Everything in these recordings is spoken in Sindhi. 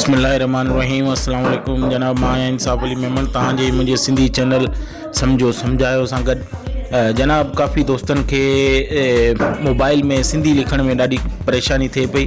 بسم الله الرحمن الرحيم السلام عليڪم جناب مان آهيان انصاف علي ميمڻ تان جي منهنجي سنڌي چينل سمجھو سمجھايو سان گڏ جناب ڪافي دوستن کي موبائل ۾ سنڌي لکڻ ۾ ڏاڍي پريشاني ٿئي پئي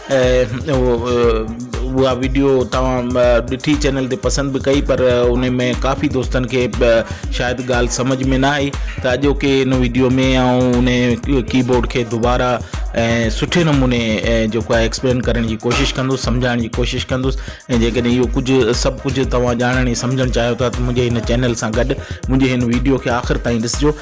اها ويڊيو توهان ڏٺي چينل تي پسند به ڪئي پر ان ۾ ڪافي دوستن کي شايد ڳالهه سمجهه ۾ نه آئي ته اڄوڪي ان ويڊيو ۾ آئون ان ڪي بورڊ کي دوبارا ۽ سٺي نموني جيڪو آهي ايڪسپلين ڪرڻ جي ڪوشش ڪندس سمجهائڻ جي ڪوشش ڪندس ۽ جيڪڏهن اهو ڪجهه سڀ ڪجهه توهان ڄاڻڻ ۽ سمجهڻ چاهيو ٿا ته منهنجي هن چينل سان گڏ منهنجي هن ويڊيو کي آخر تائين ڏسجو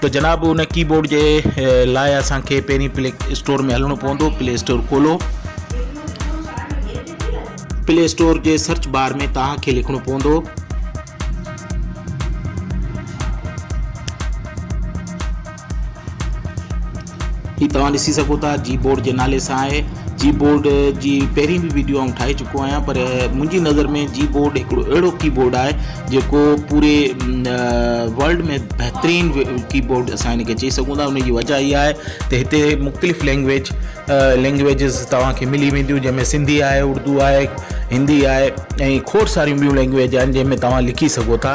ته جناب ان ڪي بورڊ جي لاء اسان کي پهرين پلي اسٽور ۾ هلڻو پوندو پلي اسٽور کولو پلي اسٽور جي سرچ بار ۾ توهان کي لکڻو پوندو هي توهان ڏسي سگهو ٿا جي بورڊ جي نالي سان آهي جي بورڊ جي پهرين به ويڊيو آئون ٺاهي چڪو آهيان پر منهنجي نظر ۾ جي بورڊ هڪڙو اهڙو ڪي بورڊ آهي جيڪو پوري ورلڊ ۾ بهترين ڪي بورڊ اسان هن کي چئي سگهون ٿا ان جي وجہ اها آهي ته هتي مختلف لينگويج لينگويجز توهان کي ملي وينديون جنهن ۾ سنڌي آهي اردو آهي هندي آهي ۽ کوڙ ساريون ٻيون لينگويج آهن جنهن ۾ توهان لکي سگهو ٿا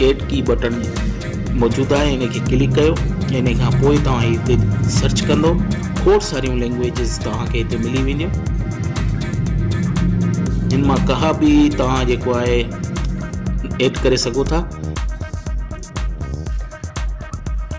ايڊ ڪي بٽڻ موجود آهي ان کي ڪلڪ ڪيو ان کان پوء توهان هتي سرچ ڪندو کوڙ ساريون لينگويجز توهان کي هتي ملي وينديون جن مان ڪها به توهان جيڪو آهي ايڊ ڪري سگهو ٿا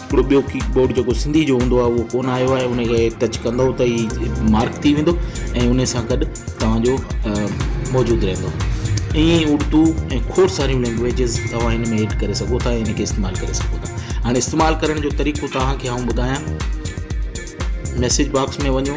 هڪڙو ٻيو ڪيڪ بورڊ جيڪو سنڌي جو هوندو آهي اهو ڪون آيو آهي ان کي ٽچ ڪندو ته هي مارڪ ٿي ويندو ۽ ان سان گڏ توهان جو موجود رهندو ائين ئي اردو ۽ کوڙ ساريون لينگويجز توهان هن ۾ ايڊ ڪري سگهو ٿا ان کي استعمال ڪري سگهو ٿا هاڻي استعمال ڪرڻ جو طريقو توهان کي آئون ٻڌايان ميسج باڪس ۾ وڃو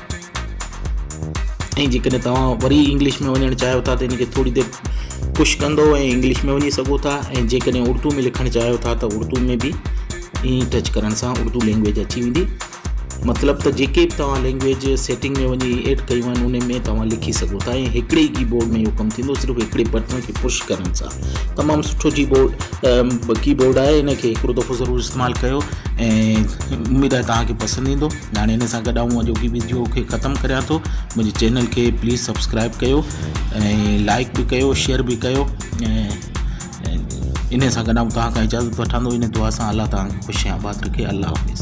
۽ جيڪڏهن توهان وري انگلش ۾ وڃڻ چاهيو ٿا ته ان کي ٿوري دير پش ڪندو ۽ انگلش ۾ وڃي سگهو ٿا ۽ جيڪڏهن اردو ۾ لکڻ چاهيو ٿا ته اردو ۾ به ائين ٽچ ڪرڻ سان اردو لينگويج اچي ويندي مطلب ته جيڪي به توهان لينگويج سيٽنگ ۾ وڃي ايڊ ڪيون آهن ان ۾ توهان لکي سگهو ٿا ۽ هڪڙي ڪي بورڊ ۾ اهو ڪم ٿيندو صرف هڪڙي بٽن کي پش ڪرڻ سان تمام سٺو جي بورڊ ڪي بورڊ آهي ان کي هڪڙو دفعو ضرور استعمال ڪيو ۽ اميد آهي توهان کي پسند ايندو ۾ هاڻي هن سان گڏ آئون اڄوڪي ويڊيو کي ختم ڪريان ٿو منهنجي چينل کي پليز سبسڪرائب ڪيو ۽ لائڪ به ڪيو شيئر به ڪيو ان سان گڏ آئون توهان کان اجازت وٺان ٿو ان دعا سان الله توهان کي خوش آباد رکي الله حافظ